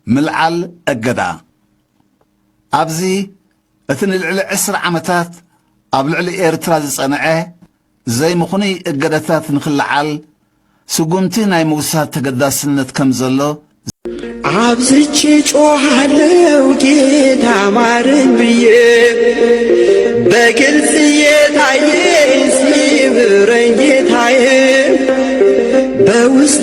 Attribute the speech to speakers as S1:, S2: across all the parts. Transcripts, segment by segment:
S1: ምልዓል እገዳ ኣብዚ እቲ ንልዕሊ ዕስራ ዓመታት ኣብ ልዕሊ ኤርትራ ዝጸንዐ ዘይምኽኑይ እገዳታት ንክልዓል ስጉምቲ ናይ ምውሳድ ተገዳስነት ከም ዘሎ
S2: አብዝቼ ጮኻለው ጌታ ማረኝ ብዬ በግልጽ የታየኝ ሲምረኝ ጌታዬ በውስጥ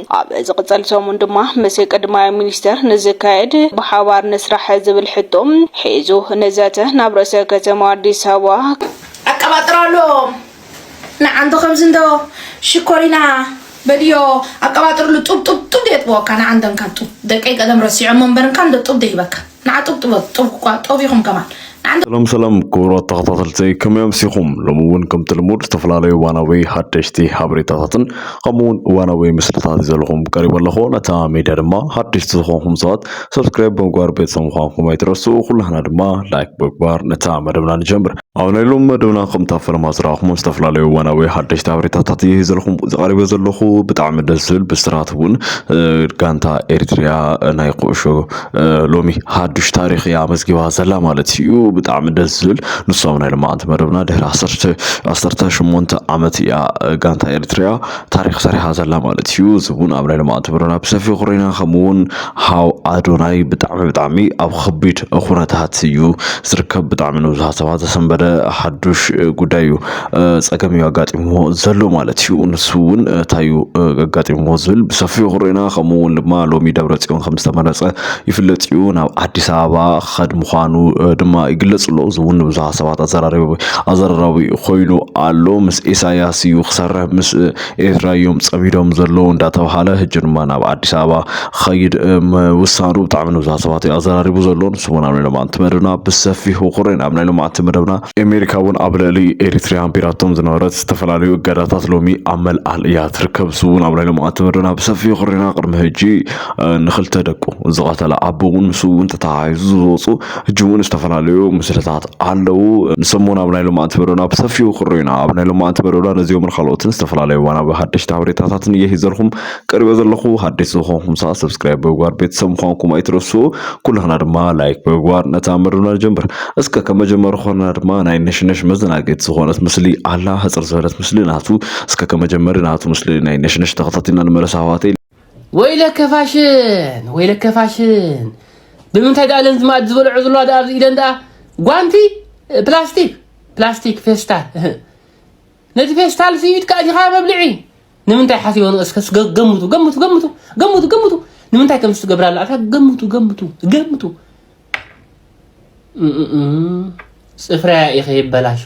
S3: ኣብ ዝቕፅል ሰሙን ድማ ምስ ቅድማይ ሚኒስተር ንዝካየድ ብሓባር ንስራሕ ዝብል ሕቶ ሒዙ ንዘተ ናብ ርእሰ ከተማ ኣዲስ ኣበባ ኣቀባጥራ
S4: ኣሎ። ንዓንተ ከምዚ እንዶ ሽኮሪና በልዮ ኣቀባጥርሉ ጡብ ጡብ ጡብ የጥበወካ ንዓንተ እንካ ጡብ ደቀይ ቀደም ረሲዖሞ እምበር እንካ እንዶ ጡብ ደይበካ። ንዓ ጡብ ጥበብ ጡብ እኳ ጦቢኹም ከማን ንዓ እንተ ሰላም ሰላም
S5: ክቡራት ተኸታተልተይ ከመይ ኣምሲኹም ሎሚ እውን ከምቲ ልሙድ ዝተፈላለዩ እዋናዊ ሓደሽቲ ሓበሬታታትን ከምኡ እውን እዋናዊ ምስልታት ይዘልኹም ቀሪበ ኣለኹ ነታ ሚድያ ድማ ሓደሽቲ ዝኾንኩም ሰባት ሰብስክራይብ ብምግባር ቤተሰብ ምዃንኩም ኣይትረስኡ ኩላህና ድማ ላይክ ብምግባር ነታ መደብና ንጀምር ኣብ ናይ ሎም መደብና ከምታ ፈለማ ዝረኣኹሞ ዝተፈላለዩ እዋናዊ ሓደሽቲ ሓበሬታታት እየ ሂዘልኹም ዝቐሪበ ዘለኹ ብጣዕሚ ደስ ዝብል ብስራት እውን ጋንታ ኤርትሪያ ናይ ኩዕሾ ሎሚ ሓዱሽ ታሪክ እያ መዝጊባ ዘላ ማለት እዩ ብጣዕሚ ደስ ዝብል ንሶም ናይ ልማዓንቲ መደብና ድሕሪ ዓሰርተ ሸሞንተ ዓመት እያ ጋንታ ኤርትሪያ ታሪክ ሰሪሓ ዘላ ማለት እዩ እዚ እውን ኣብ ናይ ልምዓት ብረራ ብሰፊሑ ክሪና ከምኡ እውን ሃው ኣዶናይ ብጣዕሚ ብጣዕሚ ኣብ ከቢድ ኩነታት እዩ ዝርከብ ብጣዕሚ ንብዙሃ ሰባት ዘሰንበደ ሓዱሽ ጉዳይ እዩ ፀገም እዩ ኣጋጢምዎ ዘሎ ማለት እዩ ንሱ እውን እንታይ እዩ ኣጋጢምዎ ዝብል ብሰፊሑ ክሪና ከምኡ እውን ድማ ሎሚ ደብረ ፅዮን ከም ዝተመረፀ ይፍለጥ እዩ። ናብ ኣዲስ ኣበባ ክኸድ ምዃኑ ድማ ይግለጽ ኣሎ። እዚ እውን ንብዙሓት ሰባት ኣዘራራቢ ኣዘራራቢ ኮይኑ ኣሎ። ምስ ኢሳያስ እዩ ክሰርሕ ምስ ኤርትራ እዮም ጸሚዶም ዘለዉ እንዳተባሃለ ሕጂ ድማ ናብ ኣዲስ ኣበባ ክኸይድ ምውሳኑ ብጣዕሚ ንብዙሓት ሰባት እዩ ኣዘራሪቡ ዘሎ። ንሱ እውን ኣብ ናይ ሎማዕንቲ መደብና ብሰፊሑ ኩሬና ኣብ ናይ ሎማዕንቲ መደብና ኣሜሪካ እውን ኣብ ልዕሊ ኤሪትሪያ ኣንቢራቶም ዝነበረት ዝተፈላለዩ እገዳታት ሎሚ ኣብ መልዓል እያ ትርከብ። ንሱ እውን ኣብ ናይ ሎማዕንቲ መደብና ብሰፊሑ ኩሬና ቅድሚ ሕጂ ንክልተ ደቁ ዝቐተለ ኣቦ እውን ምስ እውን ተተሓሒዙ ዝወፁ ሕጂ እውን ዝተፈላለዩ ምስልታት ኣለዉ። ንሶም እውን ኣብ ናይ ሎማዓንቲ መደብና ብሰፊሑ ክርኡ ኢና። ኣብ ናይ ሎማዓንቲ መደብና ነዚኦምን ካልኦትን ዝተፈላለዩ እዋናዊ ሓደሽቲ ሓበሬታታትን እየ ሂዘልኩም ቀሪበ ዘለኹ። ሓደሽቲ ዝኾንኩም ሰዓ ሰብስክራይብ ብምግባር ቤተሰብ ምዃንኩም ኣይትረስኡ። ኩላህና ድማ ላይክ ብምግባር ነታ መደብና ንጀምር። እስከ ከም መጀመሪ ኮና ድማ ናይ ነሽነሽ መዘናገቲ ዝኾነት ምስሊ ኣላ ህፅር ዝበለት ምስሊ ናቱ እስከ ከም መጀመሪ ናቱ ምስሊ ናይ ነሽነሽ ተኸታቲልና ንመለስ ኣሕዋተይ። ወይለከ
S6: ፋሽን ወይለከ ፋሽን ብምንታይ ደኣ ለንዚ ማእድ ዝበልዖ ዘለዋ ደኣ ኣብዚ ኢደን ደኣ ጓንቲ ፕላስቲክ ፕላስቲክ ፌስታል ነቲ ፌስታል ሲ ኢድካ እዚኻ መብልዒ ንምንታይ ሓሲቦ ንእስከ ገምቱ ገምቱ ገምቱ ገምቱ ገምቱ ንምንታይ ከም ዝትገብራላ ኣታ ገምቱ ገምቱ ገምቱ ጽፍራያ ኢኺ ይበላሾ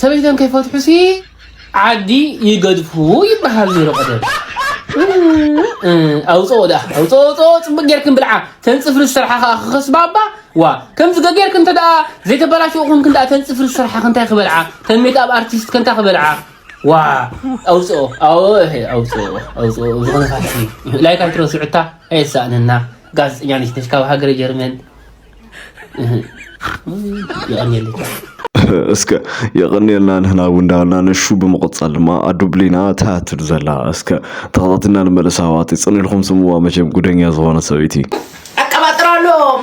S6: ሰበይቶም ከይፈትሑሲ ዓዲ ይገድፉ ይበሃል ነይሩ ቀደም። ኣውፅኦ ደኣ ኣውፅኦ ኣውፅኦ ፅቡቅ ጌርክን ብልዓ ተንፅፍሪ ዝሰርሓ ከዓ ክኸስባባ ዋ ከምዚ ገጌርክን እንተ ዘይተበላሸኹም ክንዳ ተንፅፍሪ ዝሰርሓ ክንታይ ክበልዓ ተሜት ኣብ ኣርቲስት ከንታ ክበልዓ ዋእ ኣውፅኦ ኣወ ኣውፅኦ ኣውፅኦ ብዝኾነታሲ ላይክ ኣይትረስዑ እታ ኣየሳእነና ጋዜጠኛ ነሽ ነሽ ካብ ሃገረ ጀርመን እህ፣ የቐንየለይ እስከ
S5: የቐንየልና ንህና እውን እንዳበልና ነሹ ብምቕፃል ድማ ኣዱ ብሊና ትሃትድ ዘላ እስከ ተኸታትና ንመለስ ኣሕዋት ይፅን ኢልኩም ስምዋ መቸም ጉደኛ ዝኾነ ሰበይቲ ኣቀባጥራሎም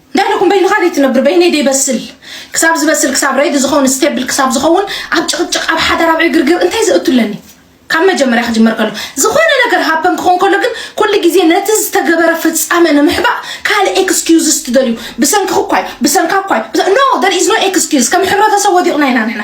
S4: እንታይ ደኹም በይንኻ ዘይትነብር በይነይ ደይበስል ክሳብ ዝበስል ክሳብ ረይዲ ዝኸውን ስቴብል ክሳብ ዝኸውን ኣብ ጭቕጭቕ ኣብ ሓዳር ኣብ ዕግርግር እንታይ ዘእቱ ኣለኒ ካብ መጀመርያ ክጅመር ከሎ ዝኾነ ነገር ሃፐን ክኾን ከሎ ግን ኩሉ ግዜ ነቲ ዝተገበረ ፍጻመ ንምሕባእ ካልእ ኤክስኪዩዝስ ትደልዩ ብሰንኪ ክኳይ ብሰንካ ኳይ ኖ ደር ኢዝ ኖ ኤክስኪዩዝ ከም ሕብረተሰብ ወዲቕና ኢና ንሕና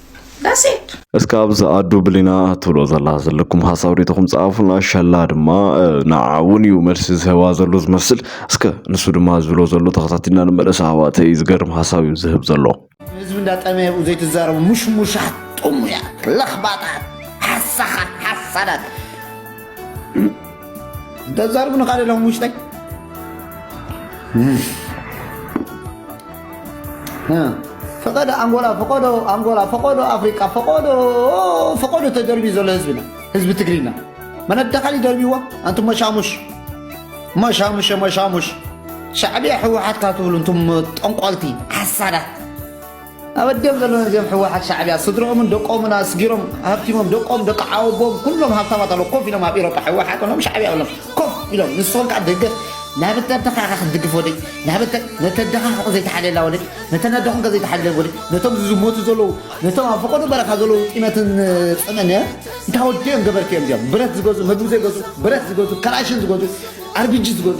S4: ዳሴት እስከ ኣብዚ ኣዱ
S5: ብሊና ትብሎ ዘላ ዘለኩም ሓሳብ ሪኢቶኹም ጸሓፉልና ሸላ ድማ ንዓ እውን እዩ መልሲ ዝህባ ዘሎ ዝመስል እስከ ንሱ ድማ ዝብሎ ዘሎ ተኸታቲልና ንመለስ ኣሕዋተይ ዝገርም ሓሳብ እዩ ዝህብ ዘሎ ህዝቢ እንዳጠመየ
S7: ብኡ ዘይትዛረቡ ሙሽሙሻት ጥሙያት ለኽባጣት ሓሳኻት ሓሳዳት ተዛርቡ ንካደ ሎም ውሽጠይ ፈቀዶ ኣንጎላ ፈቀዶ ኣንጎላ ፈቀዶ ኣፍሪቃ ፈቀዶ ፈቀዶ ተደርብዩ ዘሎ ህዝብና ህዝቢ ትግርና መነዳኻሊ ደርብይዎ ኣንቱም መሻሙሽ መሻሙሽ መሻሙሽ ሻዕብያ ሕወሓትካ ትብሉ እንቱም ጠንቆልቲ ሓሳዳት ኣበዲኦም ዘሎና እዚኦም ሕዋሓት ሻዕብያ ስድርኦምን ደቆምን ኣስጊሮም ሃብቲሞም ደቆም ደቂ ሓወቦኦም ኩሎም ሃብታማት ኣለው ኮፍ ኢሎም ኣብ ኢሮፓ ሕዋሓት በሎም ሻዕብያ በሎም ኮፍ ኢሎም ንስኹም ከኣ ደገፍ ናበተ ኣደኻ ኢኻ ክትድግፍ ወደይ ናበተ ነተ ኣደኻ ሕቕ ዘይትሓልየላ ወደይ ነተን ኣደኹምከ ዘይትሓልለን ወደይ ነቶም ዝዝሞቱ ዘለዉ ነቶም ኣብ ፈቐዶ በረኻ ዘለዉ ጢመትን ጽምእን እንታ ወዲኦም ገበርቲ እዮም እዚኦም ብረት ዝገዙ ምግቢ ዘይገዙ ብረት ዝገዙ ከላሽን ዝገዙ ኣርቢጂ ዝገዙ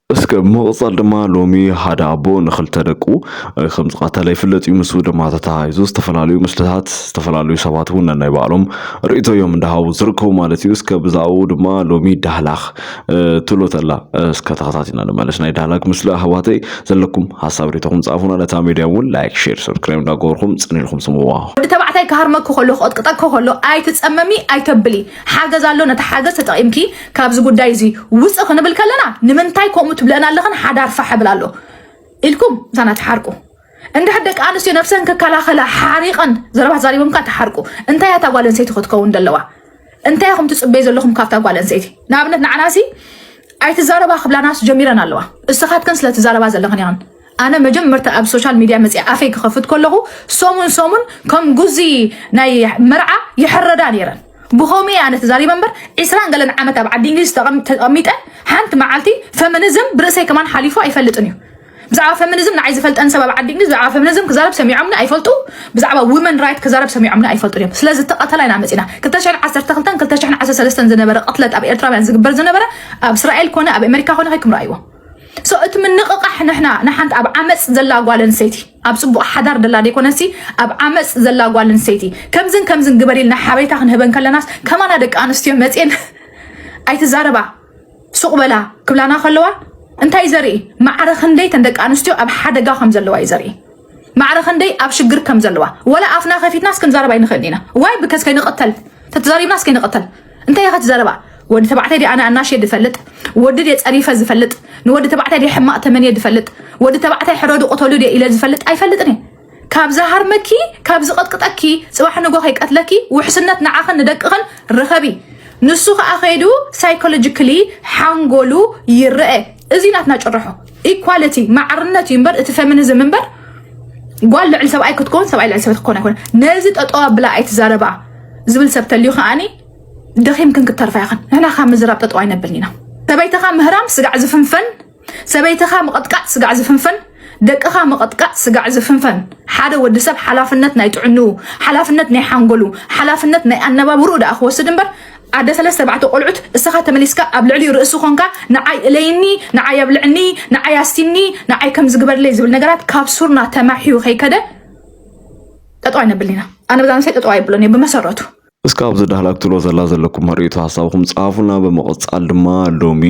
S7: እስከ ብምቕጻል
S5: ድማ ሎሚ ሓደ ኣቦ ንኽልተ ደቁ ከም ዝቐተለ ይፍለጥ እዩ። ምስኡ ድማ ተተሓሒዙ ዝተፈላለዩ ምስልታት ዝተፈላለዩ ሰባት እውን ነናይ ባዕሎም ርእይቶ እዮም እንዳሃቡ ዝርከቡ ማለት እዩ። እስከ ብዛዕኡ ድማ ሎሚ ዳህላክ ትብሎ ተላ እስከ ተኸታቲና ንመለስ። ናይ ዳህላክ ምስሊ ኣህዋተይ ዘለኩም ሀሳብ ሬቶኹም ጻፉና። ነታ ሚድያ እውን ላይክ፣ ሼር፣ ሰብስክራይብ እንዳገበርኩም ጽን ኢልኩም ስምዋ። ወዲ ተባዕታይ ክሃርመኪ
S4: ከሎ ክቕጥቅጠኪ ከሎ ኣይትጸመሚ ኣይተብሊ ሓገዝ ኣሎ ነቲ ሓገዝ ተጠቒምኪ ካብዚ ጉዳይ እዚ ውፅ ክንብል ከለና ንምንታይ ከምኡ ትብለና ኣለኽን ሓዳር ፋሕ ብል ኣሎ ኢልኩም እሳና ትሓርቁ እንድሕር ደቂ ኣንስትዮ ነብሰን ክከላኸላ ሓሪቐን ዘረባ ተዛሪቦም ካ ትሓርቁ እንታይ እያ እታ ጓል ኣንስተይቲ ክትከውን ዘለዋ እንታይ ኢኹም ትፅበዩ ዘለኹም ካብታ ጓል ኣንስተይቲ ንኣብነት ንዓናሲ ኣይትዛረባ ክብላናስ ጀሚረን ኣለዋ እስኻትክን ስለትዛረባ ዘለኽን ኢኽን ኣነ መጀመርታ ኣብ ሶሻል ሚድያ መፅኣ ኣፈይ ክኸፍት ከለኹ ሰሙን ሰሙን ከም ጉዚ ናይ መርዓ ይሕረዳ ነይረን ብኸመይ ኣነ ተዛሪበ እምበር ዕስራን ገለን ዓመት ኣብ ዓዲ እንግሊዝ ተቐም- ተቐሚጠ ሓንቲ መዓልቲ ፈሚኒዝም ብርእሰይ ከማን ሓሊፉ ኣይፈልጥን እዩ ብዛዕባ ፈሚኒዝም ንዓይ ዝፈልጠን ሰብ ኣብ ዓዲ እንግሊዝ ብዛዕባ ፈሚኒዝም ክዛረብ ሰሚዖምኒ ኣይፈልጡ ብዛዕባ ውመን ራይት ክዛረብ ሰሚዖምኒ ኣይፈልጡን እዮም ስለዚ ተቐተላ ኢና መፂና 212 213 ዝነበረ ቅትለት ኣብ ኤርትራውያን ዝግበር ዝነበረ ኣብ እስራኤል ኮነ ኣብ ኣሜሪካ ኮነ ከይክም ረኣይዎ ሶ እቲ ምንቕቓሕ ንሕና ንሓንቲ ኣብ ዓመፅ ዘላ ጓል ኣንስተይቲ ኣብ ፅቡቕ ሓዳር ደላ ዘይኮነሲ ኣብ ዓመፅ ዘላ ጓል ኣንስተይቲ ከምዝን ከምዝን ግበሪ ኢልና ሓበሬታ ክንህበን ከለናስ ከማና ደቂ ኣንስትዮ መፅን ኣይትዛረባ ሱቕ በላ ክብላና ከለዋ እንታይ ዘርኢ ማዕረ ክንደይ ተን ደቂ ኣንስትዮ ኣብ ሓደጋ ከም ዘለዋ እዩ ዘርኢ ማዕረ ክንደይ ኣብ ሽግር ከም ዘለዋ ወላ ኣፍና ከፊትናስ ክንዛረብ ኣይንኽእልን ኢና ዋይ ብከዝ ከይንቕተል ተተዛሪብናስ ከይንቕተል እንታይ ኢኸ ትዛረባ ወዲ ተባዕታይ ዲ ኣነ ኣናሽየ ዝፈልጥ ወዲ ድ ፀሪፈ ዝፈልጥ ንወዲ ተባዕታይ ድ ሕማቕ ተመንየ ዝፈልጥ ወዲ ተባዕታይ ሕረዱ ቅተሉ ድ ኢለ ዝፈልጥ ኣይፈልጥን እየ ካብ ዝሃርመኪ ካብ ዝቐጥቅጠኪ ፅባሕ ንጎ ከይቀትለኪ ውሕስነት ንዓኽን ንደቅኽን ርኸቢ ንሱ ከዓ ከይዱ ሳይኮሎጂካሊ ሓንጎሉ ይረአ እዚ ናትና ጭርሖ ኢኳሊቲ ማዕርነት እዩ እምበር እቲ ፌሚኒዝም እምበር ጓል ልዕሊ ሰብኣይ ክትኮን ሰብኣይ ልዕሊ ሰበት ክኮን ኣይኮነ ነዚ ጠጠዋ ብላ ኣይትዛረባ ዝብል ሰብ ተልዩ ከዓኒ ደኺምክን ክተርፋ ይኽን ንሕና ካብ ምዝራብ ጠጠዋ ኣይነብልን ኢና ሰበይትኻ ምህራም ስጋዕ ዝፍንፈን ሰበይትኻ ምቕጥቃጥ ስጋዕ ዝፍንፈን ደቅኻ ምቕጥቃጥ ስጋዕ ዝፍንፈን ሓደ ወዲ ሰብ ሓላፍነት ናይ ጥዕንኡ ሓላፍነት ናይ ሓንጎሉ ሓላፍነት ናይ ኣነባብርኡ ደኣ ክወስድ እምበር ኣደ ሰለስተ ባዕተ ቆልዑት እስኻ ተመሊስካ ኣብ ልዕሊ ርእሲ ኮንካ ንዓይ እለይኒ ንዓይ ኣብልዕኒ ንዓይ ኣስቲኒ ንዓይ ከም ዝግበርለይ ዝብል ነገራት ካብ ሱርና ተማሕዩ ከይከደ ጠጠዋ ይነብልና ኣነ ብዛንሳይ ጠጠዋ ይብሎን እየ ብመሰረቱ እስከ ኣብዚ ዳህላክ
S5: ክትብሎ ዘላ ዘለኩም ርእይቶ ሀሳብኩም ጻፉና ብምቕጻል ድማ ሎሚ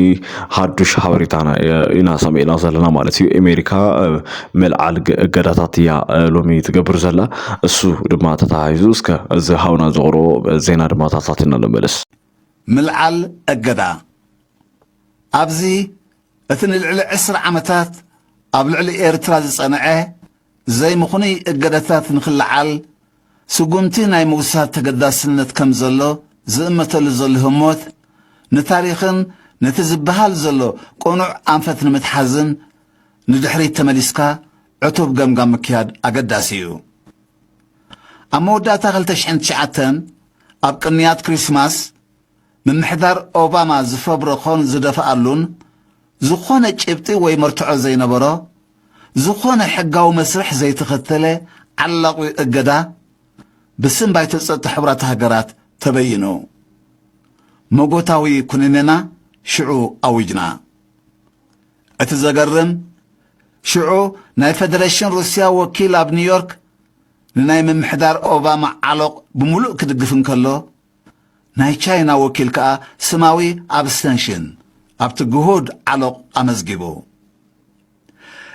S5: ሀዱሽ ሀበሬታና ኢና ሰሚዕና ዘለና ማለት እዩ ኣሜሪካ መልዓል እገዳታት እያ ሎሚ ትገብር ዘላ እሱ ድማ ተተሃይዙ እስከ እዚ ሀውና ዘቕርቦ ዜና ድማ ታሳቲና ንመለስ ምልዓል
S1: እገዳ ኣብዚ እቲ ንልዕሊ ዕስራ ዓመታት ኣብ ልዕሊ ኤርትራ ዝጸንዐ ዘይምኽኑይ እገዳታት ንክለዓል ስጉምቲ ናይ ምውሳድ ተገዳስነት ከም ዘሎ ዝእመተሉ ዘሎ ህሞት፣ ንታሪኽን ነቲ ዝበሃል ዘሎ ቅኑዕ ኣንፈት ንምትሓዝን ንድሕሪት ተመሊስካ ዕቱብ ገምጋም ምክያድ ኣገዳሲ እዩ። ኣብ መወዳእታ ክልተ ሽሕን ትሽዓተን ኣብ ቅንያት ክሪስማስ ምምሕዳር ኦባማ ዝፈብረኾን ዝደፍኣሉን ዝኾነ ጭብጢ ወይ መርትዖ ዘይነበሮ፣ ዝኾነ ሕጋዊ መስርሕ ዘይተኸተለ ዓላቝ እገዳ ብስም ባይቶ ጸጥታ ሕቡራት ሃገራት ተበይኑ። መጎታዊ ኩነኔና ሽዑ ኣዊጅና። እቲ ዘገርም፣ ሽዑ ናይ ፈደረሽን ሩስያ ወኪል ኣብ ኒውዮርክ ንናይ ምምሕዳር ኦባማ ዓሎቕ ብምሉእ ክድግፍ እንከሎ፣ ናይ ቻይና ወኪል ከኣ ስማዊ ኣብስተንሽን ኣብቲ ግሁድ ዓሎቕ ኣመዝጊቡ።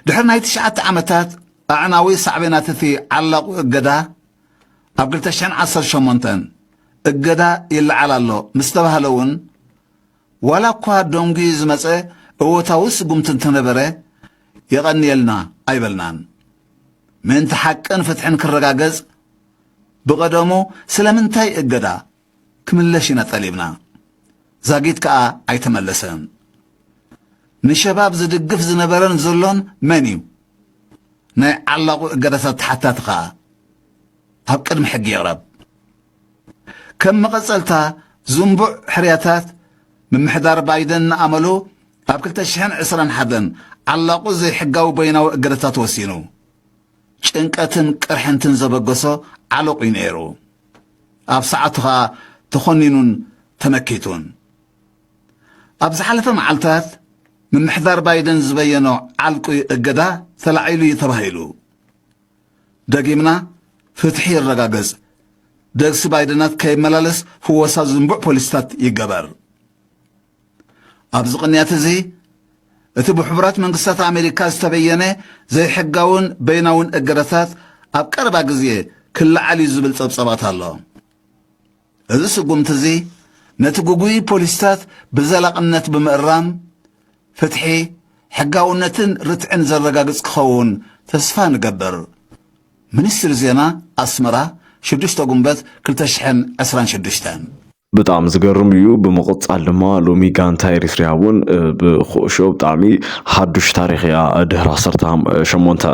S1: ድሕሪ ናይ ትሽዓተ ዓመታት ኣዕናዊ ሳዕቤናት እቲ ዓላቝ እገዳ፣ ኣብ ክልተ ሽሕን ዓሰርተ ሸሞንተን እገዳ ይለዓል ኣሎ ምስ ተባህለ እውን፣ ዋላ እኳ ደንጒዩ ዝመጸ እወታዊ ስጉምቲ እንተነበረ፣ የቐንየልና ኣይበልናን። ምእንቲ ሓቅን ፍትሕን ክረጋገጽ፣ ብቐደሙ ስለምንታይ እገዳ ክምለሽ ኢና ጠሊብና፣ ዛጊት ከኣ ኣይተመለሰን። ንሸባብ ዝድግፍ ዝነበረን ዘሎን መን እዩ? ናይ ዓላቑ እገዳታት ተሓታቲ ከኣ ኣብ ቅድሚ ሕጊ ይቕረብ። ከም መቐጸልታ ዝንቡዕ ሕርያታት፣ ምምሕዳር ባይደን ንኣመሉ ኣብ ክልተ ሽሕን ዕስራን ሓደን ዓላቑ ዘይሕጋዊ በይናዊ እገዳታት ወሲኑ። ጭንቀትን ቅርሕንትን ዘበገሶ ዓሎቕ እዩ ነይሩ። ኣብ ሰዓቱ ኸኣ ተዀኒኑን ተመኪቱን። ኣብ ዝሓለፈ መዓልታት ምምሕዳር ባይደን ዝበየኖ ዓልቊ እገዳ ተላዒሉ እዩ ተባሂሉ። ደጊምና ፍትሒ ይረጋገጽ፣ ደግሲ ባይደናት ከይመላለስ ፍወሳ ዝንቡዕ ፖሊሲታት ይገበር፣ ኣብዚ ቅንያት እዚ እቲ ብሕቡራት መንግስታት ኣሜሪካ ዝተበየነ ዘይሕጋውን በይናውን እገዳታት ኣብ ቀረባ ግዜ ክለዓል እዩ ዝብል ጸብጸባት ኣሎ እዚ ስጉምቲ እዚ ነቲ ጉጉይ ፖሊሲታት ብዘላቕነት ብምእራም ፍትሒ ሕጋውነትን ርትዕን ዘረጋግጽ ክኸውን ተስፋ ንገብር ሚኒስትሪ ዜና ኣስመራ 6 ጉንበት 226 ብጣዕሚ
S5: ዝገርም እዩ ብምቕጻል ድማ ሎሚ ጋንታ ኤሪትሪያ እውን ብኩዕሾ ብጣዕሚ ሓዱሽ ታሪኽ እያ ድሕሪ ዓሰርተ ሸሞንተ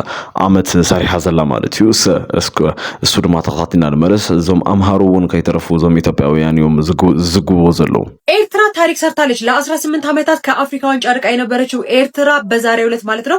S5: ዓመት ሰሪሓ ዘላ ማለት እዩ እሰ እስከ እሱ ድማ ተኸታቲና ንመለስ እዞም ኣምሃሩ እውን ከይተረፉ እዞም ኢትዮጵያውያን እዮም ዝዝግብዎ ዘለዉ ኤርትራ ታሪክ
S8: ሰርታለች። ለ18 ዓመታት ከአፍሪካ ዋንጫ ርቃ የነበረችው ኤርትራ በዛሬው ዕለት ማለት ነው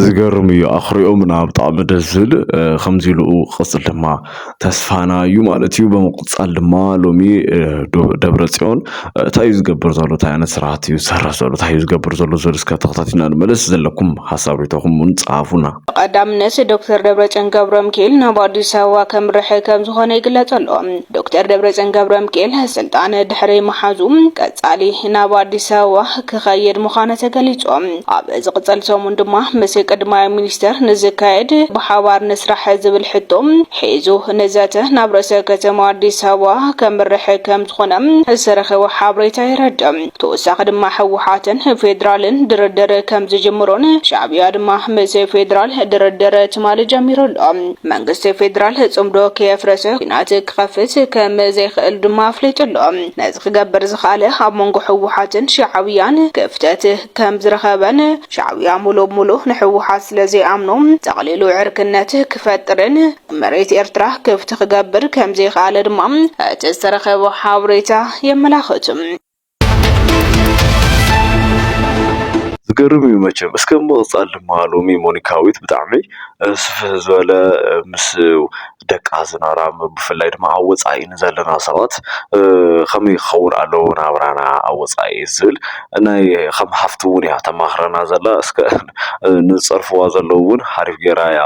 S8: ዝገርም እዩ
S5: ኣኹሪኦምና ብጣዕሚ ደስ ዝብል ከምዚ ኢሉ ክቕፅል ድማ ተስፋና እዩ ማለት እዩ። ብምቕፃል ድማ ሎሚ ደብረፅዮን እንታይ እዩ ዝገብር ዘሎ እንታይ ዓይነት ስራሕቲ እዩ ዝሰርሕ ዘሎ እንታይ እዩ ዝገብር ዘሎ ዝብል እስከ ተኸታቲልና ንመለስ ዘለኩም ሓሳብ ሪኢቶኹም እውን ፀሓፉና። ብቐዳምነት
S3: ዶክተር ደብረፅዮን ገብረምኪኤል ናብ ኣዲስ ኣበባ ከምርሕ ከምዝኾነ ይግለፅ ኣሎ። ዶክተር ደብረፅዮን ገብረምኪኤል ስልጣን ድሕሪ ምሓዙ ቀፃሊ ናብ ኣዲስ ኣበባ ክኸይድ ምዃኑ ተገሊፁ። ኣብ ዝቕፀል ሰሙን ድማ ምስ ቅድማይ ሚኒስተር ንዝካየድ ብሓባር ንስራሕ ዝብል ሕቶ ሒዙ ንዘተ ናብ ርእሰ ከተማ ኣዲስ ኣበባ ከምርሕ ከምዝኾነ ዝተረኸበ ሓበሬታ የረድእ። ተወሳኺ ድማ ህወሓትን ፌዴራልን ድርድር ከምዝጅምሩን ሻዕብያ ድማ ምስ ፌዴራል ድርድር ትማሊ ጀሚሩ ኣሎ። መንግስቲ ፌዴራል ፅምዶ ከየፍረሰ ኲናት ክኸፍት ከምዘይኽእል ድማ ኣፍሊጡ ኣሎ። ነዚ ክገብር ዝኸኣለ ኣብ መንጎ ህወሓትን ሻዕብያን ክፍተት ከም ዝረኸበን ሻዕብያ ሙሉእ ሙሉእ ንሕወሓት ስለ ዘይኣምኖ ጠቕሊሉ ዕርክነት ክፈጥርን መሬት ኤርትራ ክፍቲ ክገብር ከም ዘይኸኣለ ድማ እቲ ዝተረኸበ ሓበሬታ የመላኽት።
S5: ዝገርም እዩ መቸም እስከ ምቕጻል ድማ ሎሚ ሞኒካዊት ብጣዕሚ ስፍሕ ዝበለ ምስ ደቂ ሃዘና ብፍላይ ድማ ኣብ ወፃኢ ዘለና ሰባት ከመይ ክኸውን ኣለዎ ናብራና ኣብ ወፃኢ ዝብል ናይ ከም ሓፍቲ እውን እያ ተማኽረና ዘላ እስከ ንዝፀርፍዋ ዘለዉ እውን ሓሪፍ ገይራ እያ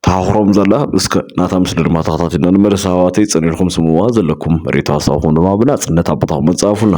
S5: ተማኽሮም ዘላ እስከ ናታ ምስሊ ድማ ተኸታቲልና ንመለስ ኣሕዋተይ ፀኒዕልኩም ስምዕዋ ዘለኩም ሪኢቶ ሃሳብኩም ድማ ብናፅነት ኣብ ቦታኹም ኣፃርፉልና።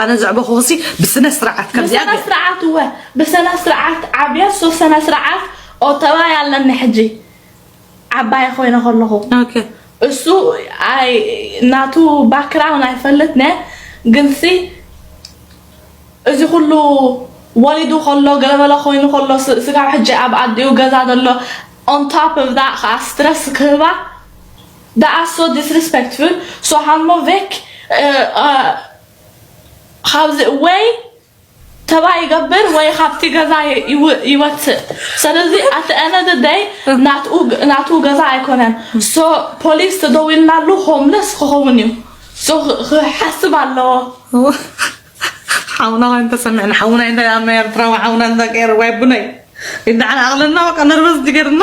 S4: ኣነ ዘዕበኹኹሲ ብስነስርዓት ከምዚኣ ብሰና ስርዓት እወ
S9: ብሰና ስርዓት ዓብየ ሶ ሰና ስርዓት ኦተባይ ኣለኒ ሕጂ ዓባየ ኮይነ ከለኹ ኦኬ
S4: እሱ
S9: ኣይ ናቱ ባክግራውንድ ኣይፈልጥነ ግንሲ እዚ ኩሉ ወሊዱ ከሎ ገለበለ ኮይኑ ከሎ ስ- ስጋብ ሕጂ ኣብ ኣዲኡ ገዛ ዘሎ ኦን ቶፕ ኦፍ ዳት ከዓ ስትረስ ክህባ Det er så disrespectful så han må vekk ወይ ተባይ ይገብር ወይ ካብቲ ገዛ ይወፅእ ስለዚ ኣቲ ኤነደ ደይ ናቱ ገዛ ኣይኮነን ሶ ፖሊስ ተደዊልናሉ ሆምለስ ክኸውን እዩ ሶ ክሓስብ ኣለዎ
S4: ሓውና ኮይን ተሰሚዕና ሓውና እንተ ኣመ ኤርትራዊ ሓውና እንተ ገይሩ ወይ ቡነይ ይዳዓል ኣቕልና በቃ ነርበዝ ጅገርና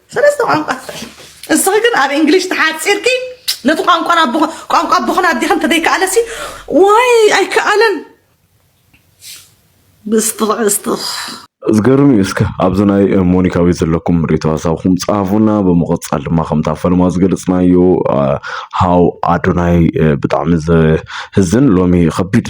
S9: ሰለስተ ቋንቋ ትኽእል እስኺ ግን ኣብ እንግሊሽ ተሓፂርኪ ነቲ ቋንቋ ቋንቋ ኣቦኽን ኣዴኽን እንተዘይከኣለሲ ዋይ ኣይከኣለን ብስትኽ
S5: ብስትኽ ዝገርም እዩ እስከ ኣብዚ ናይ ሞኒካዊ ዘለኩም ሪቶ ሀሳብኩም ጻፉና ብምቕጻል ድማ ከምታ ፈለማ ዝገለጽናዮ ሃው ኣዶናይ ብጣዕሚ ዘህዝን ሎሚ ከቢድ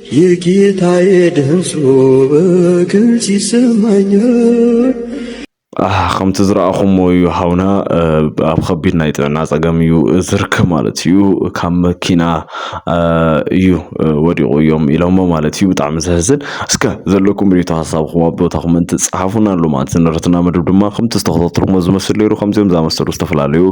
S2: የጌታዬ ድምፁ በግልጽ ይሰማኛል።
S5: ከምቲ ዝረኣኹሞ እዩ ሃውና ኣብ ከቢድ ናይ ጥዕና ፀገም እዩ ዝርከብ ማለት እዩ ካብ መኪና እዩ ወዲቑ እዮም ኢሎሞ ማለት እዩ ብጣዕሚ ዘሕዝን እስከ ዘለኩም ሪቶ ሀሳብኩም ኣብ ቦታ ኮመንት ፀሓፉና ኣሎ ማለት ንረትና መድብ ድማ ከምቲ ዝተኸታተልኩሞ ዝመስል ነይሩ ከምዚኦም ዝኣመሰሉ ዝተፈላለዩ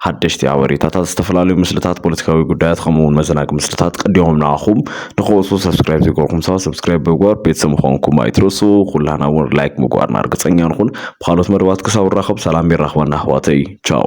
S5: ሓደሽቲ ሓበሬታታት ዝተፈላለዩ ምስልታት ፖለቲካዊ ጉዳያት ከምኡውን መዘናጊ ምስልታት ቀዲሞም ንኣኹም ንክወሱ ሰብስክራይብ ዘይገበርኩም ሰባት ሰብስክራይብ ብምግባር ቤተሰብ ምዃንኩም ኣይትረሱ። ኩላህና እውን ላይክ ምግባርና እርግፀኛ ንኹን። ብካልኦት መደባት ክሳብ ንራኸብ ሰላም የራኽበና ኣሕዋተይ ቻው።